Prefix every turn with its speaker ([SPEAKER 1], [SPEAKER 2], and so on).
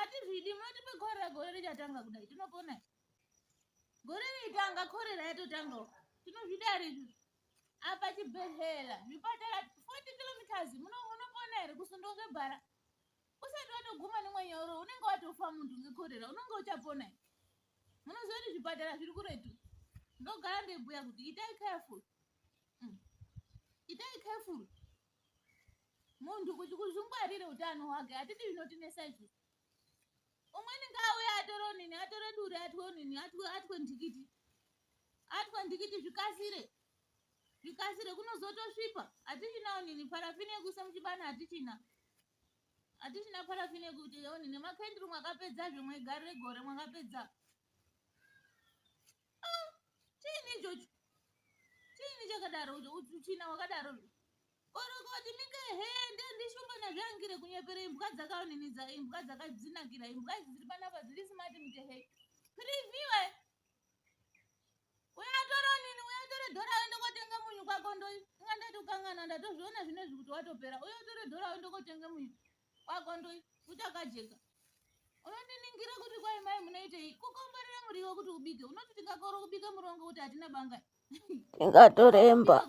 [SPEAKER 1] atizvidi motipe korera gore richatanga kudai tinopona gore ritanga korera yatotangawo tinozvida ri apa chibhedhlera zvipatara 40 kilometers munopona here kusundwa ngebhara usati watoguma nemwenyoro unenge watofa munhu ngekorera unenge uchapona here munoziva kuti zvipatara zviri kuretu ndogara ndebhuya kuti itai careful mm. itai careful munhu kuti kuzvingwarire utano hwake hatidi zvinotinesa izvi umweni ngaauya atore onini atore duri atwe onini atwe atwe ndikiti atwe ndikiti zvikasire zvikasire kunozotosvipa hatichina onini parafini yekuisa muchibana hatichina hatichina parafini yekuti onini makenduru mwakapedza zvimwe gari regore mwakapedza Ah, chiini ichocho chiini chakadaro uchina wakadaro orokoti mike he ndendishumba nazviangire kunyepera imbwa dzakaoninidza imbwa dzakadzinakira imbwa idzi dziri panapa dziri simati mike he previewe uyatora nini uyatora dhora wende kotenga munyu kwako ndo inga ndati ukangana ndatozviona zvinezvi kuti watopera uyatora dhora wende kotenga munyu kwakondoi kuchakajeka unondiningira kuti kwai mai munoitei kukomborera muriwo kuti ubike unoti tingakorwa kubika murongo kuti hatina banga tingatoremba